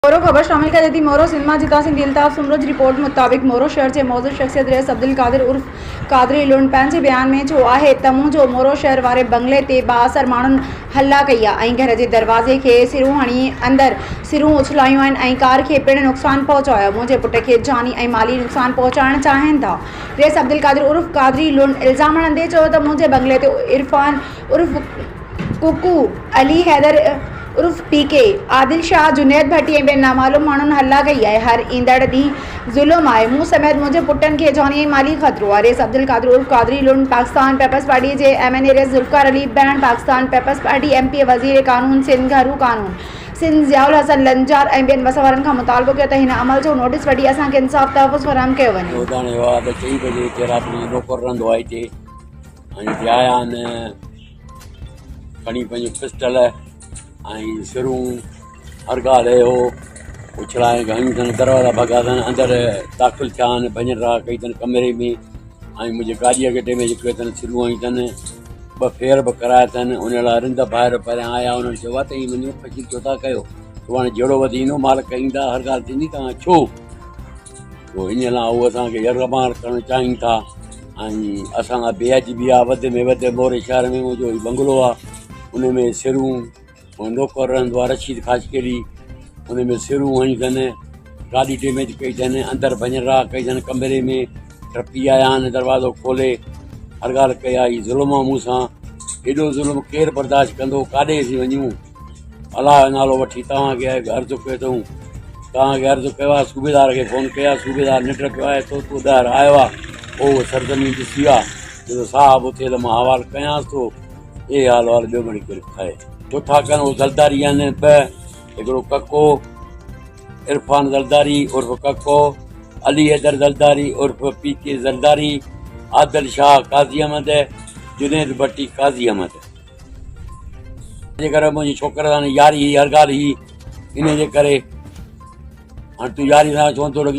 مورو، خبر شامل ڪجي ٿي، مورو سنڌ مان جتان سنڌي الطاف سومرو جي رپورٽ مطابق مورو شهر جي معزز شخصيت رئيس عبدالقادر عرف قادري لوڻ پنهنجي بيان ۾ چيو آهي ته مون جو مورو شهر واري بنگلي تي بااثر ماڻهن حلا ڪئي آهي ۽ گهر جي دروازي کي سرون هڻي اندر سرون اڇلايون آهن ۽ ڪار کي پڻ نقصان پهچايو آهي منهنجي پٽ کي جاني ۽ مالي نقصان پهچائڻ چاهين ٿا رئيس عبدالقادر عرف قادري لوڻ الزام هڻندي چيو ته منهنجي بنگلي تي عرفان عرف ڪوڪو، علي حيدر عرف پي ڪي، عادل شاهه، جنيد ڀٽي ۽ ٻين نامعلوم ماڻهن هلا ڪئي آهي. هر ايندڙ ڏينهن ظلم آهي. مون سميت منهنجي پٽن کي جاني ۽ مالي خطرو آهي. ريس عبدالقادر عرف قادري لنڊ پاڪستان پيپلز پارٽيء جي ايم اين اي ريس ذوالفقار علي بهڻ Pakistan Peoples Party M P A وزير قانون سنڌ گهرو قانون سنڌ ضياء الحسن لنجار ۽ ٻين وس وارن کان مطالبو ڪيو ته هن عمل جو نوٽيس وٺي اسان کي انصاف تحفظ فراهم ڪيو وڃي. روزاني هوا اڌ چئي بجي هتي رات جو مقرر رهندو آهي هتي. ۽ هي آيا آهن کڻي پنهنجو پسٽل ۽ سرون هر ڳالهه هو اڇلائي هنيون اٿن دروازا ڀڳا اٿن اندر داخل ٿيا آهن ڀڃن راڙ ڪئي اٿن ڪمري ۾ ۽ منهنجي ڳاڏيء جي اڳيٽي ۾ جيڪي اٿن سرون هنيون اٿن ٻه ڦير به ڪرايا اٿن ان لاء رند ڀائر پريان آيا انهن چيو ته هي منهنجو فقير ڇو ٿا ڪيو سڀاڻي جهيڙو وڌي ايندو مالڪ ايندا هر ڳالهه ٿيندي توهان ڇو سو انهيء لاء هو اسان کي يرغمال ڪرڻ چاهين ٿا ۽ اسان لاء بي عجبي آهي وڌ ۾ وڌ موري شهر ۾ منهنجو هي بنگلو آهي ان ۾ سرون ۽ نوڪر رهندو آهي رشيد خاشقيلي ان ۾ سرون هنيون اٿن گاڏي ڊيميج ڪئي اٿن اندر ڀڃ راهه ڪئي اٿن ڪمري ۾ ٽپي آيا آهن دروازو کولي هر ڳالهه ڪئي آهي ظلم آهي مون سان ايڏو ظلم ڪير برداشت ڪندو ڪاڏي اسين وڃون الله جو نالو وٺي توهان کي اهي عرض ڪيو اٿئون توهان کي عرض ڪيو آهي صوبيدار کي فون ڪيو آهي صوبيدار ننڊ پيو آهي سو تون ٻاهر آيو آهي پوء اهو سرزمين ڏسي آ جو صاحب اٿئي ته مان حوال ڪيانس ٿو اهي حال وال ٻيو مڙي ڪير ڪهي ڇو ٿا ڪن اهو زلداري يعني ٻه هڪڙو ڪڪو عرفان زلداري عرف ڪڪو علي حيدر زلداري عرف پي ڪي زلداري عادل شاهه قاضي احمد جنيد ڀٽي قاضي احمد جي ڪري منهنجي ڇوڪر سان ياري هئي هر ڳالهه هئي انهي جي ڪري هاڻ تون ياري سان ڇو نٿو رکين